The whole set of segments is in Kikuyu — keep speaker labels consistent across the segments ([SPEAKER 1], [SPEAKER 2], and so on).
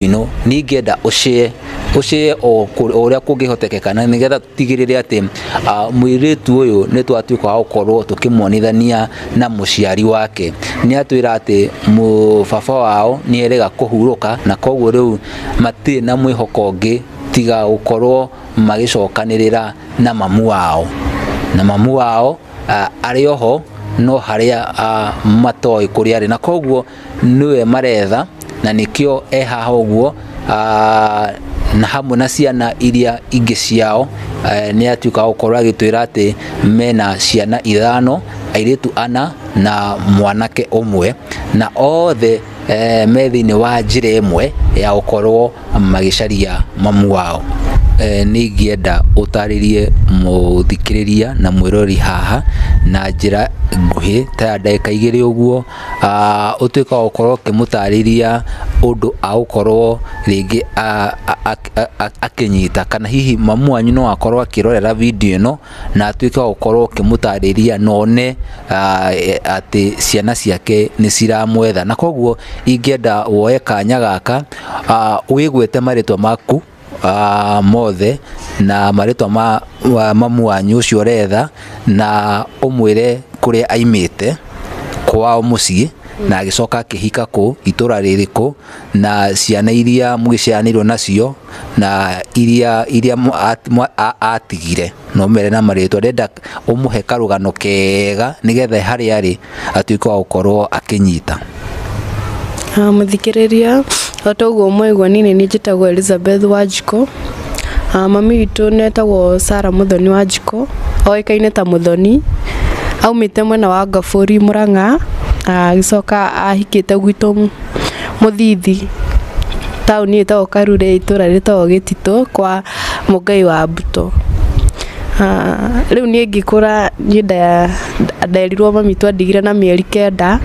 [SPEAKER 1] ino ningenda ucie ucie o uria kungihotekeka na nigetha tutigirire ati mwiritu uyu ni twatuika wa gukorwo tukimuonithania na muciari wake ni atwira ati baba wao ni erega kuhuruka na koguo riu matiri na mwihoko ungi tiga gukorwo magicokanirira na mamu wao na mamu wao ari oho no haria matoi kuria ari na koguo nĩwe maretha na nĩkĩo e haha ũguo ah, na hamwe na ciana iria ingĩ ciao eh, nĩ atuĩka gũkorwo agĩtwĩra atĩ mena ciana ithano airĩtu ana na mwanake ũmwe na othe eh, me thĩinĩ wa njĩra ĩmwe ya gũkorwo magĩcaria mamu wao Eh, nĩ ingĩenda ũtarĩrie mũthikĩrĩria na mwĩrori haha na njĩra nguhĩ ta ya ndagĩka igĩrĩ ũguo ah, ũtuĩka wa gũkorwo ũkĩmũtarĩria ũndũ agũkorwo rĩngĩ a- a- a- a- a- akĩnyita kana hihi mamu wanyu no akorwo akĩrorera video ĩno na atuĩke wa gũkorwo ũkĩmũtarĩria na one ah, e- atĩ ciana ciake nĩ ciramwetha na koguo ingĩenda woe kanya gaka ah, wĩgwete marĩtwa maku uh, mothe na marĩtwa ma wa mamu wanyu ũcio ũretha na ũmwĩre kũrĩa aimĩte kwao mũciĩ na agĩcoka akĩhika kũ itũra rĩrĩkũ na ciana iria mũgĩciaranĩirwo nacio na iria iria mwa- at- mwa- a- atigire na ũmere na marĩtwa ndĩrenda ũmũhe karũgano kega nĩgetha harĩa arĩ atuĩke wa gũkorwo akĩnyita Ah, mũthikĩrĩria
[SPEAKER 2] o ta ũguo mwaigua niĩ nĩ niĩ njĩtagwo elizabeth wanjikũ Ah, mami witũ nĩ etagwo sara mũthoni wanjikũ oĩkaine ta mũthoni aumĩte mwena wa ngabũri mũrang'a Ah, agĩcoka ahikĩte gwitũ mũthithi taũni ĩtagwo karure itũra rĩtagwo gĩtitũ kwa Mũngai wa Mbuto. Rĩu niĩ ngĩkũra niĩ nderirwo mamitũ andigire na mĩeri kenda,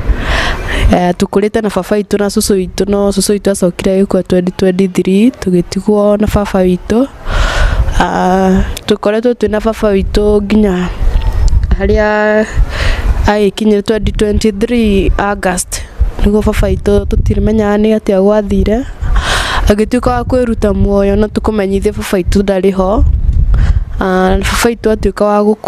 [SPEAKER 2] tũkũrĩte na baba witũ na cũcũ witũ no cũcũ witũ acokire agĩkua twenty twenty three tũgĩtigwo na baba witũ. Tũkoretwo twĩ na baba witũ nginya harĩa agĩkinyire twenty twenty three August nĩguo baba witũ tũtimenyaga nĩ atĩa gwathire. Agĩtuĩka wa kwĩruta muoyo no tũkũmenyithie baba witũ ndarĩ ho, baba witũ atuĩka wa gũkua.